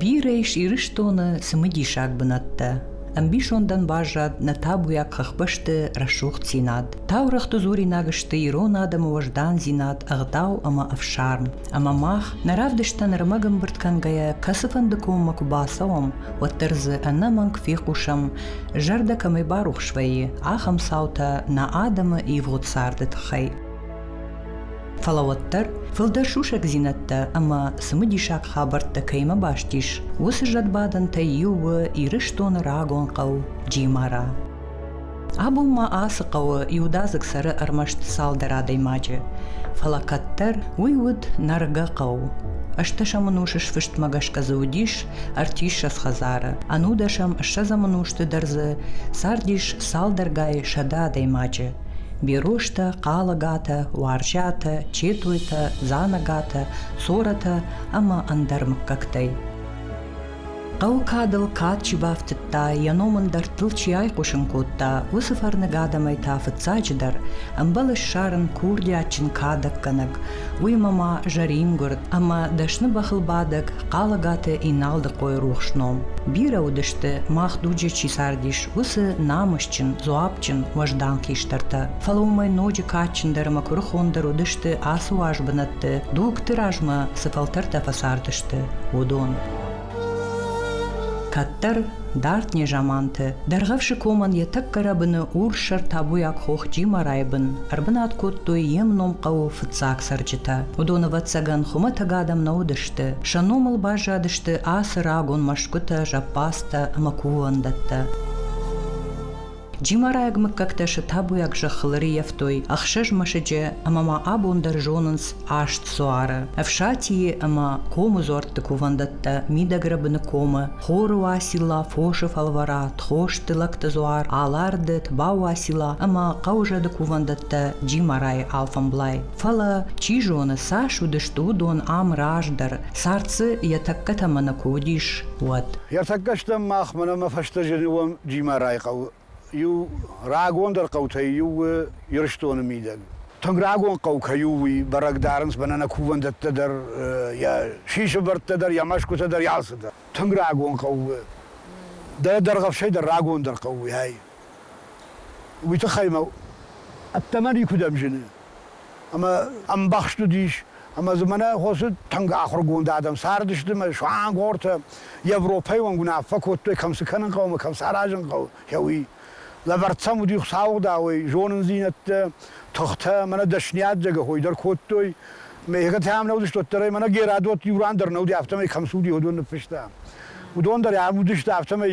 Бирӕ ис Ирыстоны цымыдисаг бынӕттӕ. Ӕмбисондӕн баззад нӕ табуйаг хӕхбӕсты рӕсугъддзинад. Таурӕгъты дзуринаг сты ирон адӕмы уӕздандзинад, ӕгъдау ӕмӕ ӕфсарм. Ӕмӕ мах, нӕ равдыстӕн ӕрмӕг ӕмбырд кӕнгӕйӕ, кӕцыфӕнды коммӕ куы бацӕуӕм, уӕддӕр дзы ӕнӕмӕнг фехъусӕм, зӕрдӕ кӕмӕй барухс вӕййы, ахӕм цаутӕ нӕ адӕмы ивгъуыд царды тыххӕй. Фӕлӕ уӕддӕр фылдӕр сусӕгдзинӕдтӕ ӕмӕ цымыдисаг хабӕрттӕ кӕимӕ баст ис, уыцы зӕдбадӕнтӕй иу у Ирыстоны рагон хъӕу Джимара. Абон ма ацы хъӕуы иудадзыг цӕры ӕрмӕст цалдӕр адӕймаджы, фӕлӕ кӕддӕр уый уыд Нӕргӕ хъӕу. Ӕстӕсӕмӕн усы сфыстмӕ гӕсгӕ дзы уыдис ӕртиссӕдз хӕдзары. Ӕнудӕсӕм ссӕдзӕмы нозты дӕр дзы цардис цалдӕргай сӕдӕ адӕймаджы. Берозтӕ, хъалагатӕ, уарзӕтӕ, четойтӕ, дзанагатӕ, цоратӕ ӕмӕ ӕндӕр мыггӕгтӕй. Хъӕуы кадыл кад чи бафтыдта, йӕ ном ын дӕрдтыл чи айхъусын кодта, уыцы фӕрныг адӕмӕй та фыццаджыдӕр ӕмбӕлы ссарын курдиатджын кадӕггӕнӕг, уыимӕ ма зӕрингуырд ӕмӕ дӕсны бӕхылбадӕг Хъалагаты Иналдыхъойы рухс ном. Бирӕ уыдысты, мах дуджы чи цардис, уыцы намысджын, дзуапджын, уӕздан хистӕртӕ. Фӕлӕ уымӕй ноджы кадджындӕр ӕмӕ куырыхондӕр уыдысты ацы уаз бынӕтты, дугты размӕ цы фӕлтӕртӕ фӕцардысты, уыдон. Кӕддӕр дард незаманты Дӕргъӕвсы комӕн йӕ тӕккӕ рӕбыны урссӕр табуйаг хох Джимарайы бын ӕрбынат кодтой йе мном хъӕуы фыццаг цӕрджытӕ. Уыдон, ӕвӕццӕгӕн, хуымӕтӕг адӕм нӕ уыдысты. Сӕ номыл баззадысты ацы рагон мӕсгуытӕ, зӕппӕдзтӕ ӕмӕ кувӕндӕттӕ. Джимарайаг мыггӕгтӕ сӕ табуйаг зӕххыл ӕрыййӕфтой ӕхсӕз мӕсыджы ӕмӕ ма абон дӕр зонынц аст дзуары, Ӕфсатийы ӕмӕ комы дзуӕртты кувӕндӕттӕ, Мидӕгрӕбыны комы, Хоры Уацилла, Фосы фӕлвӕра, Тхосты лӕгты дзуар, Аларды, Тбау Уацилла ӕмӕ хъӕузӕды кувӕндӕттӕ Джимарайы алфӕмблай. Фӕлӕ, чи зоны, цас уыдысты уыдон ам раздӕр, цард дзы йӕ тӕккӕ тӕмӕны куы уыдис, уӕд. Ӕртӕккӕ стӕм махмӕ ӕмӕ фӕстӕ зыны уӕм Джимарайы хъӕуы иу рагондӕр хъӕутӕй иу у Ирыстоны мидӕг. Тынг рагон хъӕу кӕй у, уый бӕрӕг дарынц бӕнӕна кувӕндӕттӕ дӕр, йӕ сисывӕрдтӕ дӕр, йӕ мӕсгуытӕ дӕр, йӕ цы дӕр. Тынг рагон хъӕу у. Дӕ дӕргъӕфсӕй дӕр рагондӕр хъӕу у, ай. Уый тыххӕй мӕ ӕддӕмӕ никуыдӕм зыны. Ӕмӕ ӕмбӕхст уыдис, ӕмӕ дзы мӕнӕ хосы тынг ахуыргонд адӕм цардысты мӕ суангортӕ Европӕйы онг уынаффӕ кодтой, кӕм цы кӕнын хъӕуы, кӕм цы аразын хъӕуы, хӕуи. Лӕвӕрд сӕм уыди Хуыцауыдауӕй, зонындзинӕдтӕ, тыхтӕ, мӕнӕ дӕсныйад дзӕгӕхой дӕр кодтой. Мӕ ехӕтӕм нӕ уыдыстут дӕр ӕй, мӕнӕ Герӕдот иу ран дӕр нӕ уыди, афтӕмӕй кӕм цы уыди, уыдон ныффыста. Уыдон дӕр ам уыдысты, афтӕмӕй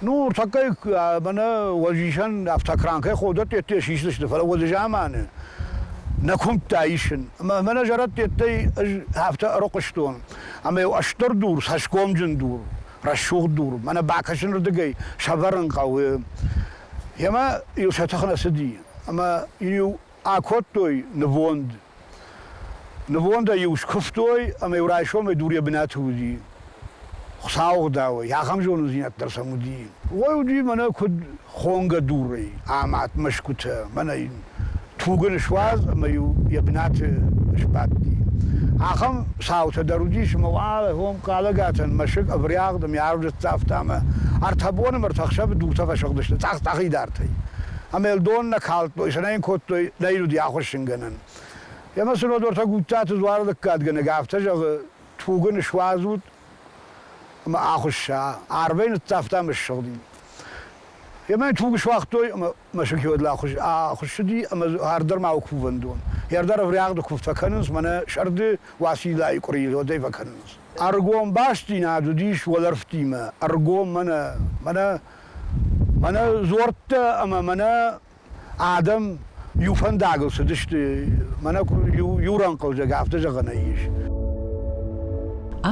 Ну, ныртӕккӕ мӕнӕ уӕзисӕн автокранкӕй ходӕттӕттӕ сисдзысты, фӕлӕ уӕззаманы нӕ куымдта исын. Ӕмӕ мӕнӕ зӕрӕдтӕттӕй ӕз афтӕ ӕрыхъуыстон, ӕмӕ иу ӕстыр дур, цӕсгомджын дур, рӕсугъд дур, мӕнӕ бакӕсынырдыгӕй сӕвӕрын хъӕуы. Йемӕ иу сӕ тых нӕ цыди, ӕмӕ иу Акодтой нывонд. Нывондӕй-иу скуывтой ӕмӕ-иу райсомӕй дур йӕ бынаты уыди. Хуыцауы гъдауӕй, ахӕм зонындзинад дӕр сӕм уыди. Ой уыди мӕнӕ куыд хонгӕ дурӕй, амад мӕсгуытӕ, мӕнӕ йын тугын суадз ӕмӕ-иу йӕ бынаты сбадти. Ахӕм цаутӕ дӕр уыдис ӕмӕ уӕлӕхъом Хъалӕгатӕн мӕсыг ӕврӕгъд ӕмӕ ӕрдзӕфтӕ ӕмӕ ӕртӕ боны мӕрдты ӕхсӕвы дуртӕ фӕсыгъдысты цъӕх-цъӕхидӕртӕй. Амелдон нӕ калдтой, сӕ нӕ йын кодтой лӕйнуди ахуссынгӕнӕн. Ӕмӕ Сынодортӕ Гуттаты дзуары лӕггадгӕнӕг афтӕ зӕгъы, Туг ын суадзут ӕмӕ ахуысса. Арвӕй ныццавта ӕмӕ ссыгъди. Ӕмӕ йын туг суагътой ӕмӕ мӕсыки уӕд ахуыссыди ӕмӕ ардӕр-ма у кувӕндон. Йе рдӕр ӕврӕгъды куыв фӕкӕнынц, мӕнӕ сӕрды Уациллайы къуырийы зодӕй фӕкӕнынц. Ӕргом бастдзинад уыдис уӕлӕрвтимӕ, ӕргом мӕнӕ, мӕнӕ Мӕнӕ дзуӕрттӕ ӕмӕ мӕнӕ адӕм иу фӕндагыл цыдысты. Мӕнӕ иу, иу рӕнхъылзӕг афтӕ зӕгъӕн ис.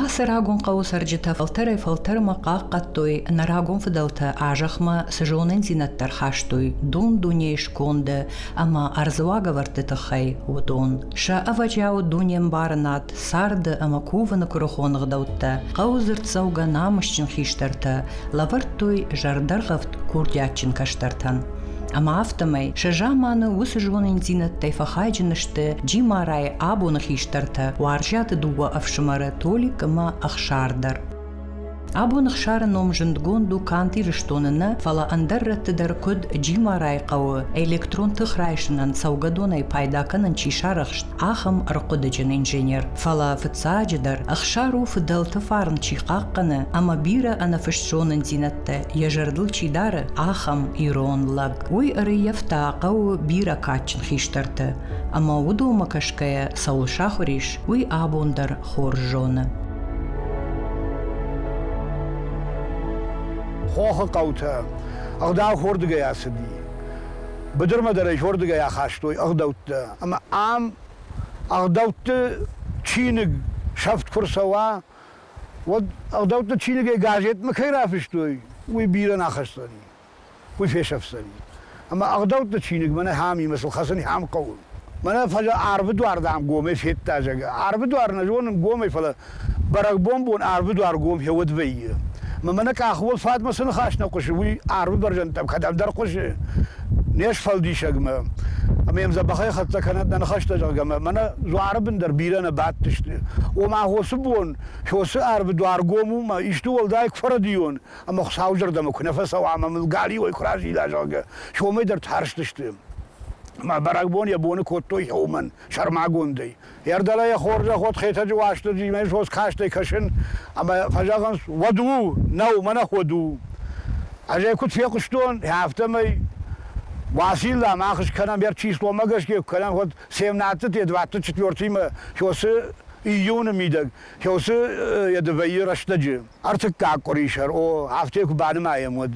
Ацы рагон хъӕуы цӕрджытӕ фӕлтӕрӕй-фӕлтӕрмӕ хъахъхъӕдтой нӕ рагон фыдӕлтӕ азӕхмӕ цы зонындзинӕдтӕ ӕрхастой дун-дунейы сконды ӕмӕ ӕрдзы уагӕвӕрдты тыххӕй, уыдон. Сӕ ӕвӕджиауы дунеӕмбарынад царды ӕмӕ кувыны куырыхон ӕгъдӕуттӕ, хъӕуы дзырддзӕугӕ намысджын хистӕртӕ лӕвӕрдтой зӕрдӕргъӕвд курдиатджын кӕстӕртӕн. Ӕмӕ афтӕмӕй сӕ заманы уыцы зониндзинӕдтӕй фӕхайджын сты Джимарайы абоны хистӕртӕ, уарзӕты дыууӕ ӕфсымӕры Толик ӕмӕ Ӕхсар дӕр. Абон Ӕхсары ном зындгонд у канд Ирыстоны нӕ, фӕлӕ ӕндӕр рӕтты дӕр, куыд Джимарайы хъӕуы электрон тых райсынӕн цӕугӕдонӕй пайда кӕнын чи сарӕхст, ахӕм ӕрхъуыдыджын инженер. Фӕлӕ фыццаджыдӕр, Ӕхсар у фыдӕлты фарн чи хъахъхъӕны ӕмӕ бирӕ ӕнӕфыст зонындзинӕдтӕ йӕ зӕрдыл чи дары, ахӕм ирон лӕг. Уый ӕрыййӕфта хъӕуы бирӕ кадджын хистӕрты, ӕмӕ уыдонмӕ кӕсгӕйӕ цӕуыл сахуыр ис, уый абон дӕр хорз зоны. Хохы хъӕутӕ ӕгъдау хордыгӕй ацыди. Быдырмӕ дӕр ӕй хордыгӕй ахастой ӕгъдӕуттӕ. Ӕмӕ ам ӕгъдӕутты чиныг сӕфт куы рцӕуа, уӕд ӕгъдӕутты чиныгӕй газетмӕ кӕй рафыстой, уый бирӕ нӕ ахӕсдзӕни. уый фесӕфдзӕни. Ӕмӕ ӕгъдӕутты чиныг мӕнӕ хӕмимӕ сыл хӕцын хӕм хъӕуы. Мӕнӕ фӕлӕ арвы дуар, дам, гомӕй федта, зӕгъы. Арвы дуар нӕ зонын гомӕй, фӕлӕ бӕрӕгбонбон арвы дуар гом фӕуӕд вӕййы. Мӕ мӕнӕ къахыуыл фатмӕ цы ныхас нӕ хъуысы, уый арвы бӕрзӕндтӕм кӕдӕмдӕр хъуысы, не сфӕлдисӕгмӕ. Ӕмӕ йӕм дзӕбӕхӕй хӕццӕ кӕнӕд нӕ ныхӕстӕ, зӕгъгӕ, мӕ мӕнӕ дзуары бын дӕр бирӕ нӕ бадтысты. Ома, хосы бон, хосы арвы дуар гом у, мӕ исты уӕлдай куы фӕрӕдийон, ӕмӕ Хуыцауызӕрдӕмӕ куы нӕ фӕцӕуа ӕмӕ мыл галиуӕй куы разила, зӕгъгӕ, сомӕй дӕр тӕрстысты. Мӕ бӕрӕгбон йӕ боны кодтой уымӕн, сӕрмагондӕй. Ӕрдӕлӕ йӕ хорзӕх уӕд Хетӕджы Уастырджимӕ сос кастӕй кӕсын, ӕмӕ фӕзӕгъынц, уӕд у, нӕу, мӕнӕ уӕд у. Ӕз ӕй куыд фехъуыстон, афтӕмӕй Уацилла мах скӕнӕм, ӕр числомӕ гӕсгӕ куы кӕнӕм, уӕд семнадцаты, девдӕтты, четвертимӕ, сёсы июны мидӕг, сёсы йӕ дывӕйы рӕстӕджы. ӕртыккаг къуырисӕр, о, афтӕ куы банымайӕм, уӕд.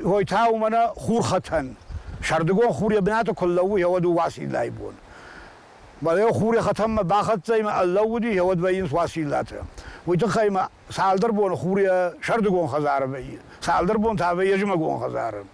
Хой та у мӕнӕ хурхӕтӕн. Сӕрдыгон хур йӕ бынаты куы лӕууы, гьӕуӕд у Уациллайы бон. Балео хуры хӕтӕнмӕ бахӕццӕ ӕмӕ ӕллӕууыди, гьӕуӕд вӕййынц Уациллатӕ. Уый тыххӕй ма цалдӕр боны хур йӕ сӕрдыгон хӕдзары вӕййы, цалдӕр бон та вӕййы зымӕгон хӕдзары.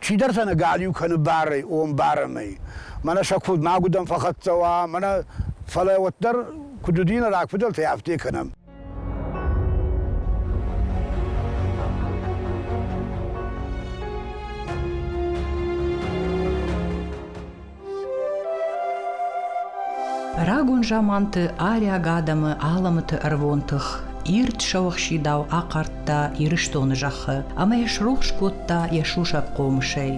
Чидӕртӕ нӕ галиу кӕны барӕй, омбарӕнӕй. Мӕнӕ сӕ куыд мӕгуыдӕн фӕхӕццӕ уа, мӕнӕ, фӕлӕ уӕддӕр, куыд уыди нӕ рагфыдӕлтӕй, афтӕ кӕнӕм. Рагон заманты ариаг адӕмы алӕмӕты ӕрвон тых ирд сӕуӕхсидау ахъардта Ирыстоны зӕххы ӕмӕ йӕ срухс кодта йӕ сусӕг хъомысӕй.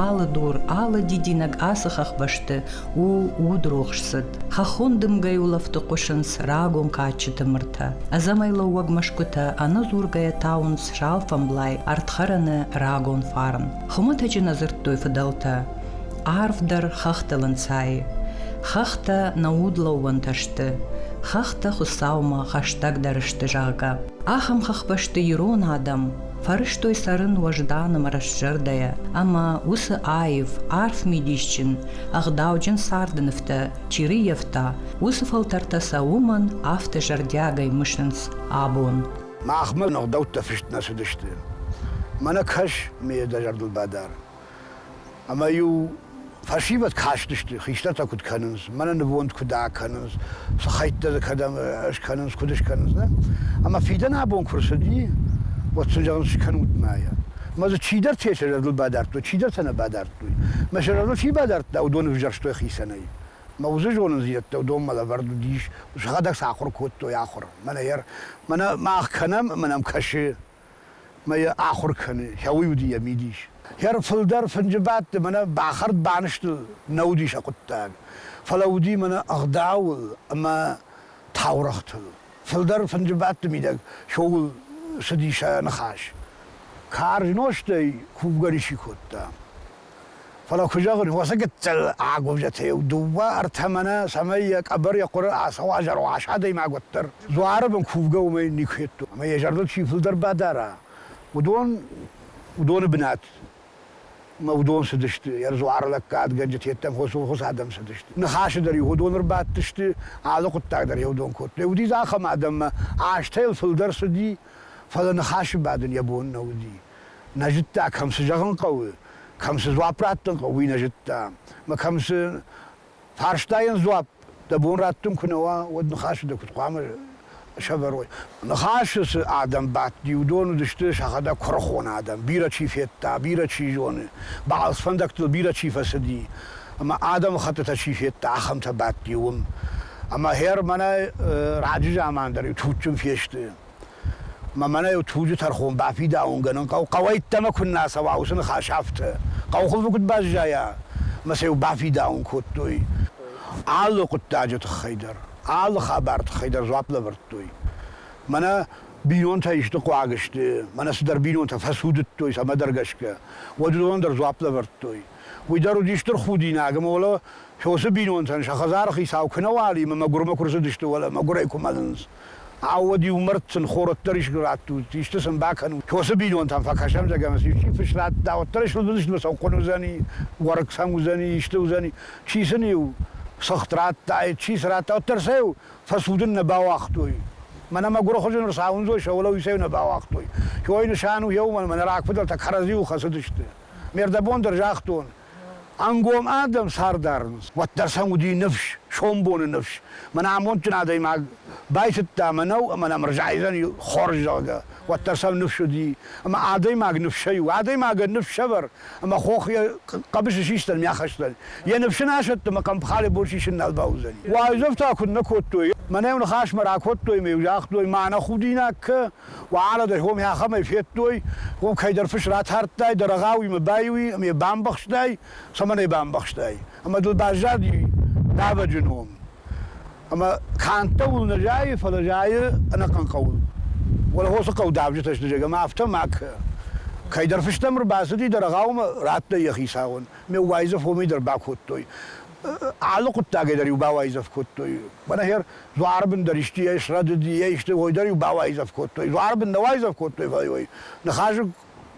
Алы дур, алы дидинӕг ацы хӕхбӕсты у удрохс цыд. Хӕххон дымгӕйы улӕфты хъуысынц рагон кадджыты мыртӕ. Ӕдзӕмӕй лӕууӕг мӕсгуытӕ ӕнӕдзургӕйӕ тауынц салфӕмблай ӕрдхӕрӕны рагон фарн. Хуымӕтӕджы нӕ дзырдтой фыдӕлтӕ. Арфдӕр хӕхтыл ӕнцайы. Хӕхтӕ нӕ удлӕууӕнтӕ сты. Хӕхтӕ Хуыцаумӕ хӕстӕгдӕр сты, зӕгъгӕ. Ахӕм хӕхбӕсты ирон адӕм фӕрӕзтой цӕрын уӕздан ӕмӕ рӕстзӕрдӕйӕ, ӕмӕ уыцы аив, арф мидисджын, ӕгъдауджын царды нывтӕ чи рыййӕфта, уыцы фӕлтӕртӕ сӕ уымӕн афтӕ зӕрдиагӕй мысынц абон. Махмӕ ӕгъдӕуттӕ фыст нӕ цыдысты. Мӕнӕ кӕс, ме дӕ зӕрдыл бадар. Ӕмӕ-иу фӕсивӕд кастысты, хистӕртӕ куыд кӕнынц, мӕнӕ нывонд куыд акӕнынц, цы хӕйттӕ дзы кӕдӕм скӕнынц, куыд скӕнынц. Не? Ӕмӕ фидӕн абон куы рцыди, уӕд сын зӕгъын скӕнут мӕйӕ. Мӕ дзы чидӕртӕ сӕ зӕрдыл бадардтой, чидӕртӕ нӕ бадардтой. Мӕ сӕ зӕрдыл чи бадардта, уыдон ӕвзӕрстой хицӕнӕй. Мӕ уыцы зонындзинӕдтӕ уыдонмӕ лӕвӕрд уыдис, сӕхӕдӕг сӕ ахуыр кодтой, ахуыр. Мӕнӕ йӕ мӕнӕ мах кӕнӕм, ӕмӕ нӕм кӕсы. мӕ йӕ ахуыр кӕны, хъӕуы уыди йӕ мидис. Йӕ рфылдӕр фынджы бадты мӕнӕ бахӕрд-банызты нӕ уыди сӕ хъуыддаг, фӕлӕ уыди мӕнӕ ӕгъдауыл ӕмӕ таурӕгътыл. Фылдӕр фынджы бадты мидӕг шоуыл цыди сӕ ныхас. Карз нозтӕй кувгӕ ничи кодта. Фӕлӕ куы зӕгъын, уыцы гыццыл агуывзӕты иу, дыууӕ, ӕртӕ мӕнӕ, цӕмӕй йӕ къӕбӕр йӕ хъуыры ацӕуа зӕроас адӕймаг уӕддӕр. Дзуары бын кувгӕ уымӕй никуы федтон, ӕмӕ йӕ зӕрдыл чи фылдӕр бадара, уыдон, уыдоны бынат мӕ уыдон цыдысты, йӕ дзуары лӕггадгӕнджыты, йеддӕмӕ хосонхоз адӕм цыдысты. Ныхасы дӕр-иу уыдон ӕрбадтысты, алы хъуыддаг дӕр йӕ уыдон кодтой. Уыдис ахӕм адӕм, ӕмӕ азтӕ йыл фылдӕр цыди, фӕлӕ ныхасы бадын йӕ бон нӕ уыди. Нӕ зыдта, кӕм цы зӕгъын хъӕуы, кӕм цы дзуапп раттын хъӕуы, уый нӕ зыдта. Мӕ кӕм цы фарстайӕн дзуапп дӕ бон раттын куы нӕ уа, уӕд ныхасы дӕ куыд хъуамӕ сӕвӕрой? Ныхасы цы адӕм бадти, уыдон уыдысты сӕхӕдӕг куырыхон адӕм, бирӕ чи федта, бирӕ чи зоны, балц фӕндӕгтыл бирӕ чи фӕцыди, ӕмӕ адӕмыхӕттытӕ чи федта, ахӕмтӕ бадти уым. Ӕмӕ хӕр мӕнӕ раджы заман дӕр иу туджджын фесты. Ма мӕнӕ еу туджы тӕрхон бафидаунгӕнун хъӕу, хъӕуӕйттӕмӕ куннӕ цӕуа уыцы ныхасӕфтӕ. Хъӕухуылфы куыд баззайа, мӕ сӕ-иу бафидауын кодтой. Алы хъуыддаджы тыххӕй дӕр, алы хабар тыххӕй дӕр дзуапп лӕвӕрдтой. Мӕнӕ бинонтӕ исты хъуаг сты, мӕнӕ цыдӕр бинонтӕ фӕцудыдтой, цӕмӕдӕр гӕсгӕ, уӕд уыдонӕн дӕр дзуапп лӕвӕрдтой. Уый дӕр уыди стыр худинаг, ӕмӕ уӕлӕ фосы бинонтӕн сӕ хӕдзары хицау куы нӕ уали ӕмӕ мӕгуырмӕ куы рцыдысты, уӕлӕ мӕгуырӕй куы мӕлынц. Ауӕд-иу мӕрдтын хорӕддӕр искуы раттут, исты сын бакӕнут. Косы бинонтӕм фӕкӕсӕм, зӕгӕм, исчи фыс радта, уӕддӕр суыдзысты цӕугхъуын уыдзӕни, уӕрыкк сӕм уыдзӕни, исты уыдзӕни. Чи сын-иу цыхт радтаид, чи цы радта, уӕддӕр сӕ-иу фӕсудын нӕ бауагътой. Мӕнӕ мӕ гуырыхуызы ныр цауындзой, сӕ уӕлӕуый сӕ-иу нӕ бауагътой. Кой нысан у еу, мӕнӕ мӕ рагфыдӕлтӕ кӕрӕдзиуыл хӕцыдысты. Ме рдӕбон дӕр загътон, Ӕнгом адӕм цар дарынц, уӕддӕр сӕм уыди ныфс, сомбоны ныфс. Мӕнӕ амондджын адӕймаг байтыдта мӕнӕу ӕмӕ нӕм ӕрзайдзӕни хорз, зӕгъгӕ, уӕддӕр сӕм ныфс уыди. Ӕмӕ адӕймаг ныфсӕй у. Адӕймагӕн ныфсӕвӕр ӕмӕ хох йӕ хъӕбысы систӕн ме ахӕстӕн. Йӕ ныфс ын асӕтты ӕмӕ хъӕмпхале бон сисын нал бауыдзӕни. Уайдзӕф та куыд нӕ кодтой? Мӕнӕ-иу ныхасмӕ ракодтой ӕмӕ-иу загътой, мӕнӕ худинаг кӕ, Уӕладӕй хомӕ ахӕмӕй федтой, уым кӕйдӕр фыс ратардтай, дӕ рӕгъауимӕ байуй ӕма йӕ бамбӕхстай, цӕмӕн ӕй бамбӕхстай? Ӕмӕ дыл баззади давӕджы ном. Ӕмӕ кӕндтӕуыл нӕ зайы, фӕлӕ зайы ӕнӕхъӕн хъӕуыл. Уӕлахосы хъӕу давджытӕ сты, зӕгӕ, ӕмӕ афтӕ макӕ. Кӕйдӕр фыстӕм ӕрбацыди дӕ рӕгъаумӕ, радтай йӕ хицауӕн. Ме уайдзӕф уымӕй дӕр бакодтой. алы хъуыддагӕй дӕр-иу бауайдзӕф кодтой. Мӕнӕхер дзуары бын дӕр исты йӕ срӕдыд, йӕ исты уой дӕр-иу бауайдзӕф кодтой. Дзуары бын нӕ уайдзӕф кодтой, фӕлӕ уой ныхасыг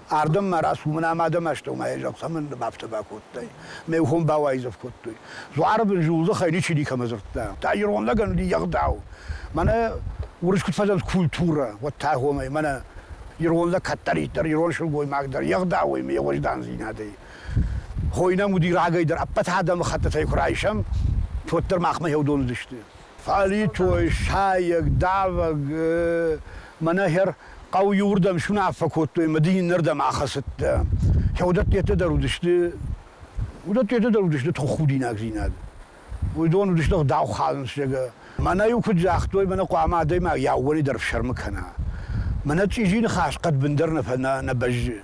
ардӕм ма рацу, мын ӕм адӕм астӕумӕйӕ зӕгъ, цӕмӕн дӕм афтӕ бакодтай? Ме ухон бауайдзӕф кодтой. Дзуары бын зулдзыхӕй ничи никӕмӕ дзырдта. Та ирон лӕгӕн уыди егъдау. Мӕнӕ уырыс куыд фӕзынд культурӕ, уӕд та гъомӕй мӕнӕ ирон лӕг кӕддӕриддӕр, ирон сылгоймаг дӕр егъдауӕй ме уӕздандзинадӕй. Хойы нӕм уыди рагӕй дӕр ӕппӕт адӕмыхӕттытӕй куы райсӕм, уӕддӕр махмӕ фӕдон уыдысты. Фӕлитой, сайӕг, давӕг, мӕнӕ хӕр хъӕуы иуырдӕм суынаффӕ кодтой мӕ дын иннӕрдӕм ахӕцыдтӕ. Уыдӕттӕ дӕр уыдысты, уыдӕттӕ дӕр уыдысты тоххудинагдзинад. Уыдон уыдысты ӕгъдау хӕлынсӕгӕ. Мӕнӕ-иу куыд загътой, мӕнӕ хъуамӕ адӕймаг йӕ ӕууӕнӕй дӕр фсӕрмы кӕна. Мӕнӕ чъизи ныхас хъӕдбындӕр нӕ фӕ нӕ бӕззы.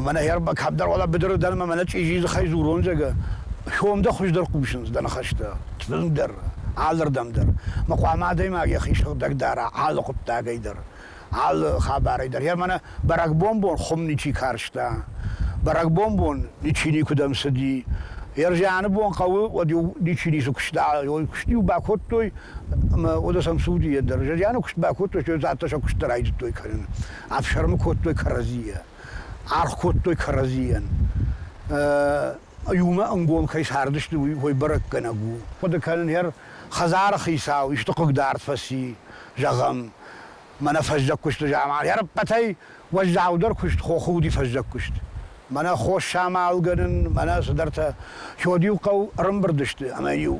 Мӕнӕ ӕрба кӕддӕр уӕлӕ быдыры дӕн мӕ мӕнӕ чъизи дзыхӕй дзурон зӕгӕ. Хьом дӕ хуыздӕр хъусынц дӕ ныхӕстӕ. Тынг дӕр, алырдӕм дӕр. Мӕ хъуамӕ адӕймаг йӕхи сыгъдӕг дара алы хъуыддагӕй дӕр, алы хабарӕй дӕр. Йӕ мӕнӕ бӕрӕгбонбон хуым ничи карста, бӕрӕгбонбон ничи никуыдӕм цыди. Йӕ зианы бон хъӕуы, уӕд-иу ничи ницы куыста, уый куыст-иу бакодтой, ӕмӕ уӕдӕ сӕм цы уыди йӕ дӕр. Зианы куыст бакодтой, сӕ цӕттӕ сӕ куыст дӕр райдыдтой кӕнын. ӕфсӕрмы кодтой кӕрӕдзийӕ, аргъ кодтой кӕрӕдзийӕн. Иумӕ ӕнгом кӕй цардысты, уый бӕрӕггӕнӕг у. Хъуыды кӕнын, хӕр хӕдзары хицау исты хъыгдард фӕци, зӕгъӕм, мӕнӕ фӕззӕг куысты заман ӕрппӕтӕй уӕззаудӕр куыст хохуди фӕззӕг куыст. Мӕнӕ хос самалгӕнын, мӕнӕ цыдӕртӕ. Сёд-иу хъӕу ӕрымбырд сты ӕмӕ-иу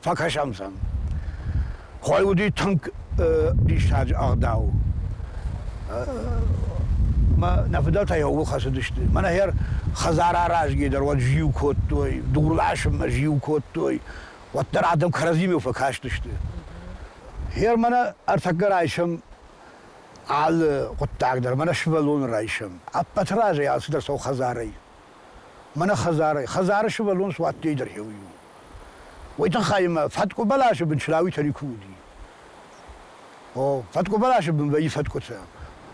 фӕкӕсӕм сӕм. Хой уыди тынг диссаджы ӕгъдау. Мӕ нӕ фыдӕлтӕ йӕ ууыл хӕцыдысты. Мӕнӕ хӕр хӕдзар аразгӕ дӕр уӕд зиу кодтой, дур ласынмӕ зиу кодтой, уӕддӕр адӕм кӕрӕдзимӕ фӕкастысты. Хер мӕнӕ ӕртӕккӕ райсӕм алы хъуыддаг дӕр, мӕнӕ сывӕллоны райсӕм. Ӕппӕты разӕй алцыдӕр цӕуы хӕдзарӕй. Мӕнӕ хӕдзарӕй. Хӕдзары сывӕллон суадтӕй дӕр еу иу. Уой тыххӕй мӕ фӕткъуы бӕласы бын члауитӕ никуы уыди. О, фӕткъуы бӕласы бын вӕййы фӕткъуытӕ.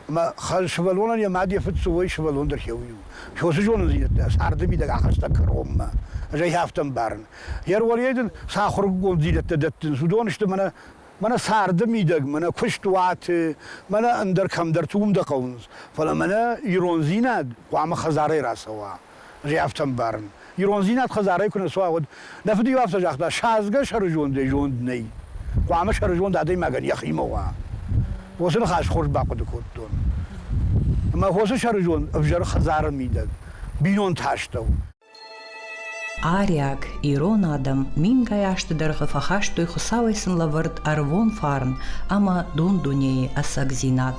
Ӕмӕ хӕ- сывӕллонӕн йӕ мад йӕ фыд цы уой, сывӕллон дӕр еу иу. Цы уыцы зонындзинӕдтӕ царды мидӕг ахаста кӕронмӕ. Ӕз ӕй афтӕ ӕмбарын. Йӕ ролӕй дын цы ахуыргонддзинӕдтӕ дӕттынц, уыдон сты мӕнӕ Мӕнӕ царды мидӕг, мӕнӕ куыст, уаты, мӕнӕ ӕндӕр кӕмдӕрты уым дӕ хъӕуынц, фӕлӕ мӕнӕ ирондзинад хъуамӕ хӕдзарӕй рацӕуа. Ӕз афтӕ ӕмбарын. Ирондзинад хӕдзарӕй куы нӕ цуа, уӕд. Нӕ фыд-иу афтӕ загъта, садзгӕ сӕрызондӕй зонд нӕй. Хъуамӕ сӕрызонд адӕймагӕн йӕхимӕ уа. Уыцы ныхас хорз бахъуыды кодтон. Ӕмӕ хосы сӕрызонд ӕвзӕр хӕдзары мидӕг, бинонты астӕу. Ариаг, ирон адӕм мингай азты дӕргъы фӕхастой Хуыцауӕй сын лӕвӕрд ӕрвон фарн ӕмӕ дон-дунейы ӕцӕгдзинад.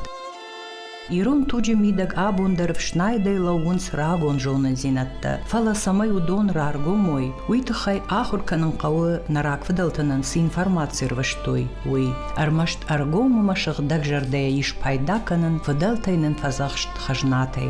Ирон туджы мидӕг абон дӕр фснайдӕй лӕууынц рагон зонындзинӕдтӕ, фӕлӕ цӕмӕй уыдон раргом уой, уый тыххӕй ахуыр кӕнын хъӕуы, нӕ рагфыдӕлты нын цы информаци рвыстой, уый. Ӕрмӕст ӕргом ӕмӕ сыгъдӕг зӕрдӕйӕ ис пайда кӕнын, фыдӕлтӕй нын фӕдзӕхст хӕзнатӕй.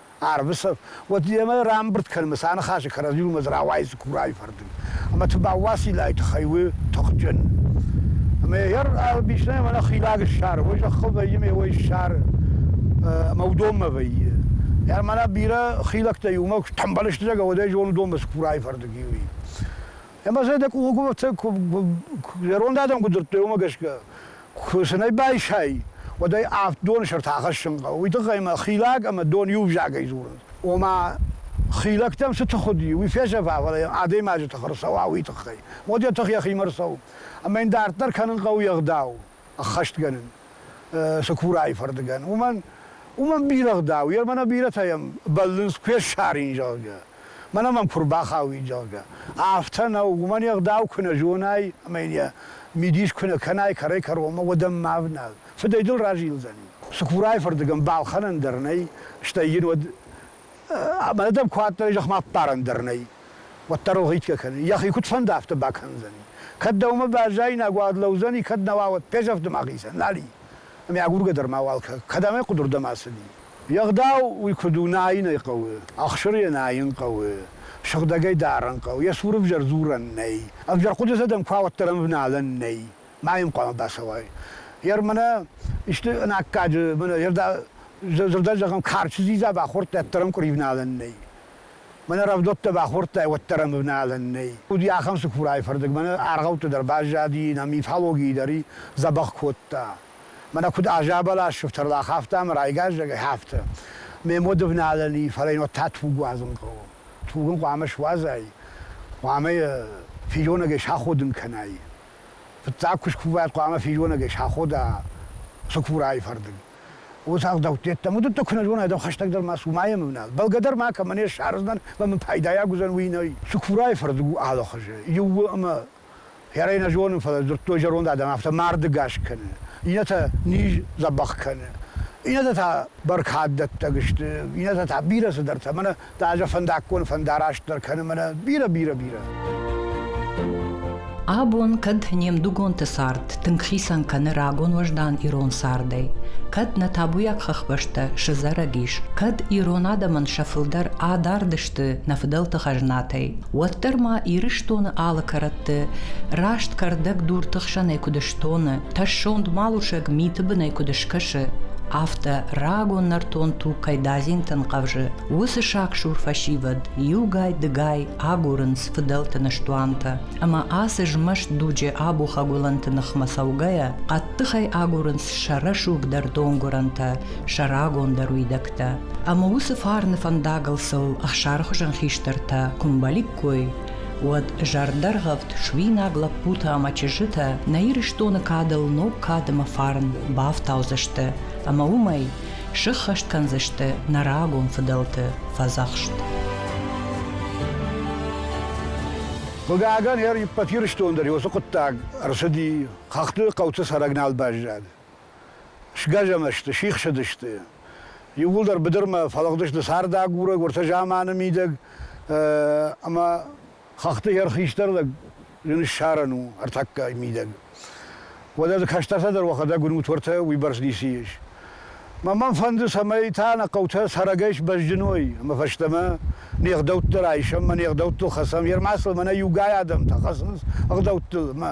Ӕрвысӕф, уӕд йемӕ рамбырд кӕнӕм сӕ ныхасы кӕрӕдзи уымӕ дзы рауайдзы курайы фӕрдыг. Ӕмӕ Тыбаууасилайы тыххӕй у тыхджын. Ӕмӕ йӕ Бишнайы мӕнӕ хилӕг ссары, уый зӕххыл вӕййы, ме уӕй ссары. Ӕмӕ уыдонмӕ вӕййы. Ӕр мӕнӕ бирӕ хилӕгтӕ иумӕ куы тӕмбӕлы сты, зӕгӕ, уӕд ӕй зонын уыдонмӕ цы курайы фӕрдыг и, уый. Ӕмӕ дзы дӕ къулгуывӕртӕ зӕронд адӕм куы дзырдтой, уымӕ гӕсгӕ Куы сын ӕй байсай, уӕд ӕй авд доны сӕрты ахӕссын хъӕуы. Уый тыххӕй мӕ хилӕг ӕмӕ дон иу взагӕй дзурынц. Ома, хилӕгтӕм цы тых уыди, уый фӕзӕгъа, фӕлӕ йӕ адӕймаджы тых ӕрцӕуа, уый тыххӕй. Уӕд йӕ тых йӕхимӕ ӕрцӕуы. Ӕмӕ йын дарддӕр кӕнын хъӕуы йе гъдау ӕххӕстгӕнын Цыкурайы фӕрдыгӕн. Уымӕн уымӕн бирӕ ӕгъдау, йе рмӕ нӕ бирӕтӕ йӕм бӕллынц, куы ссарин, зӕгъгӕ. мӕнӕ мӕм куы рбахауид, зӕгъгӕ. Афтӕ нӕу, уымӕн йе гъдау куы нӕ зонай ӕмӕ йын йӕ мидис куы нӕ кӕнай кӕрӕй-кӕронмӕ, уӕд ӕм ма ӕвнал фыдӕй дыл разилдзӕни. Цыкурайы фырдыгӕн балхӕнӕн дӕр нӕй, стӕй йын уӕд ӕмӕ дӕм куы адтаид зӕхмӕ аппарӕн дӕр нӕй, уӕддӕр ылгъитгӕ кӕны, йӕхи куыд фӕнды, афтӕ бакӕндзӕни. Кӕд дӕумӕ баззаинаг уӕд лӕудзӕни, кӕд нӕ уа, уӕд ппӕзӕфты мӕхицӕн, нал и? Ӕмӕ агургӕ дӕр мауал кӕ, кӕд ӕмӕ къуыдырдӕм ацыди. Йе гъдау уый куыд у найын ӕй хъӕуы, ӕхсыр йӕ найын хъӕуы, сыгъдӕгӕй дарын хъӕуы, йӕ цур ӕвзӕр дзурӕн нӕй, ӕвзӕр хъуыдытӕ дӕм куӕуӕддӕр ӕмвналӕн нӕй, ма йын хъуамӕ бацӕуай. Йӕ мӕнӕ исты ӕнаккаджы, мӕнӕ дзырдӕй зӕгъӕм, карчы дзидза бахордтай, уӕддӕр ӕм къуыривналӕн нӕй. Мӕнӕ рӕвдӕуттӕ бахордтай, уӕддӕр ӕм ӕвналӕн нӕй. Уыди ахӕм цыкурайы фӕрдыг, мӕнӕ аргъӕутты дӕр баззади, нӕ мифологийы дӕр и дзӕбӕх кодта. Мӕнӕ куыд азӕбӕлас сыфтӕрлах, афтӕ ӕмӕ райгаззагӕй афтӕ. Ме моды вналӕни, фӕлӕ йын уӕд та туг уадзын хъӕуы. Туг ын хъуамӕ суадзай, хъуамӕ йӕ физонӕгӕй саходын кӕнай. Фыццаг куы скувай, хъуамӕ физонӕгӕй сахода цыкурайы фӕрдыг. О, ӕгъдӕутты йеддӕмӕ уыдӕттӕ куы нӕ зонай, дӕу хӕстӕгдӕр ма цу, ма йӕм ӕвнал. Бӕлгӕ дӕр ма кӕмӕ не ссардзынӕн, ӕмӕ мын пайдайаг уыдзӕн, уый нӕй. Цыкурайы фӕрдыг у алыхуызы, иууыл ӕмӕ Хӕрӕй нӕ зонын, фӕлӕ дзырдтой зӕронд адӕм, афтӕ марды гас кӕны. Иннӕтӕ низ дзӕбӕх кӕны. Иннӕтӕ та бӕркаддӕттӕг сты, иннӕтӕ та бирӕ цыдӕртӕ. Мӕнӕ ӕз фӕндаггон фӕндараст дӕр кӕны мӕнӕ бирӕ, бирӕ, бирӕ. Абон кӕд не мдугонты цард тынг хицӕн кӕны рагон уӕздан ирон цардӕй, кӕд нӕ табуйаг хӕхбӕстӕ сызӕрӕг ис, кӕд ирон адӕмӕн сӕ фылдӕр адард кӕрӕтты нӕ фыдӕлты хӕзнатӕй, уӕддӕр ма Ирыстоны алы кӕрӕтты раст кӕрдӕг дурты хсӕнӕй куыд стоны, тӕссонд малусӕг миты бынӕй куыд скӕсы, афтӕ рагон нӕртон туг кӕй дадзинтӕн хъӕвзы, уыцы саксур фӕсивӕд иугай-дыгай агурынц фыдӕлты ныстуантӕ, ӕмӕ ацы змӕст дуджы абухӕгуылӕнты ныхмӕ цӕугӕйӕ, хъӕддыхӕй агурынц сӕ рӕсугъдӕр донгуырӕнтӕ, сӕ рагондӕр уидӕгтӕ. Ӕмӕ уыцы фарны фӕндагыл сыл ӕхсары хуызӕн хистӕртӕ куы мбӕликкой, уӕд зӕрдӕргъӕвд суинаг лӕппутӕ ӕмӕ чызджытӕ нӕ Ирыстоны кадыл ног кадымӕ фарн бафтаудзысты ӕмӕ уымӕй сыххӕст кӕндзысты нӕ рагон фыдӕлты фӕдзӕхст. Хъыгагӕн, Ӕппӕт Ирыстон дӕр уыцы хъуыддаг ӕрцыди, хӕхты хъӕуты цӕрӕг нал баззад. Сгӕзӕмӕ сты, сихсыдысты. Иууылдӕр быдырмӕ фӕлыгъдысты цардагурӕг, уӕртӕ заманы мидӕг, ӕмӕ хӕхты йӕр хистӕр лӕг зын ссарӕн у ӕртӕккӕ мидӕг. Уӕдӕ кӕстӕртӕ дӕр уӕхӕдӕг уынут уӕртӕ уыйбӕрц ницы ис. Мӕ мӕн фӕнды, цӕмӕй та нӕ хъӕутӕ цӕрӕгӕй сбӕзджын уой, ӕмӕ фӕстӕмӕ не гъдӕуттӕ райсӕм, мӕ не гъдӕуттыл хӕцӕм, йер ма сыл мӕнӕ иугай адӕмтӕ хӕцынц ӕгъдӕуттыл, ӕмӕ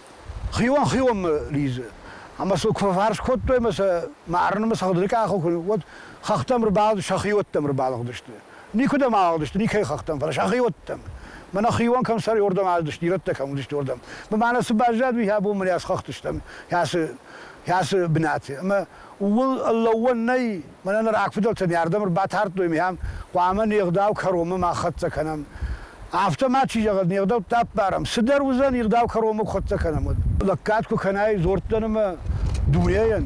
Хион хионмӕ лидзы. Ӕмӕ сыл куы фӕфарс кодтой ӕмӕ сӕ марынмӕ сӕ хъуыдырыкъахыл куы уӕд хӕхтӕм ӕрбалыгъды, сӕ хиоттӕм ӕрбалыгъдысты. Никуыдӕм алыгъдысты, никӕй хӕхтӕм, фӕлӕ сӕ хиоттӕм. Мӕнӕ хион кӕм сӕр уырдӕм алыдысты, ирӕттӕ кӕм уыдысты, уырдӕм. Мӕнӕ цы баззад, уый абон мын асхӕхтыстӕм, кӕцы, кӕцы бынаты. Ӕмӕ Ууыл лӕууӕн нӕй, мӕнӕ нӕ рагфыдӕлтӕ не ардӕм ӕрбатардтой, миан хъуамӕ не гъдау кӕронмӕ ма хӕццӕ кӕнӕм. Афтӕ ма чи зӕгъӕд, не гъдӕуттӕ ӕппарӕм, цыдӕр уыдзӕн, ӕгъдау кӕронмӕ куы хӕццӕ кӕнӕм, уӕд. Лӕггад куы кӕнай дзордтӕн ӕмӕ дунейӕн,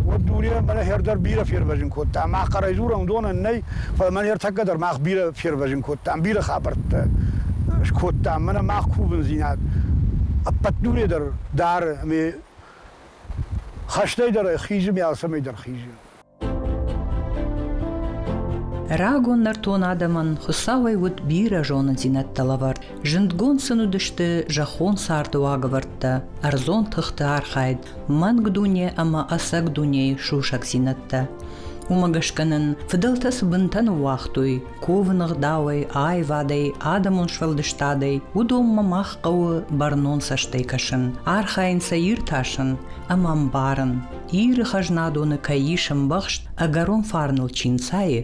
уӕд дунейӕн мӕнӕ хӕр дӕр бирӕ фервӕзын кодта. Мах хъӕрӕй дзурӕм, уыдонӕн нӕй, фӕлӕ мӕнӕ ӕртӕккӕ дӕр мах бирӕ фервӕзын кодтам, бирӕ хабӕрттӕ скодтам. Мӕнӕ мах кувындзинад ӕппӕт дуне дӕр дары ӕмӕ Хӕстӕй дӕр ӕй хизы, ме алцӕмӕй дӕр хизы. Рагон нӕртон адӕмӕн Хуыцауӕй уыд бирӕ зонындзинӕдтӕ лӕвӕрд. Зындгонд сын уыдысты зӕххон царды уагӕвӕрдтӕ, ӕрдзон тыхты архайд, мӕнг дуне ӕмӕ ӕцӕг дунейы сусӕгдзинӕдтӕ. Уымӕ гӕсгӕ нын фыдӕлтӕ цы бынтӕ ныууагътой, кувыны гъдауӕй, аивадӕй, адӕмон сфӕлдыстадӕй, уыдонмӕ мах хъӕуы бӕрнон цӕстӕй кӕсын, архайын сӕ иртасын ӕмӕ ӕмбарын, Иры хӕзнадоны кӕй ис ӕмбӕхст ӕгӕрон фарныл чи нцайы,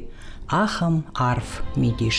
ахӕм арф мидис.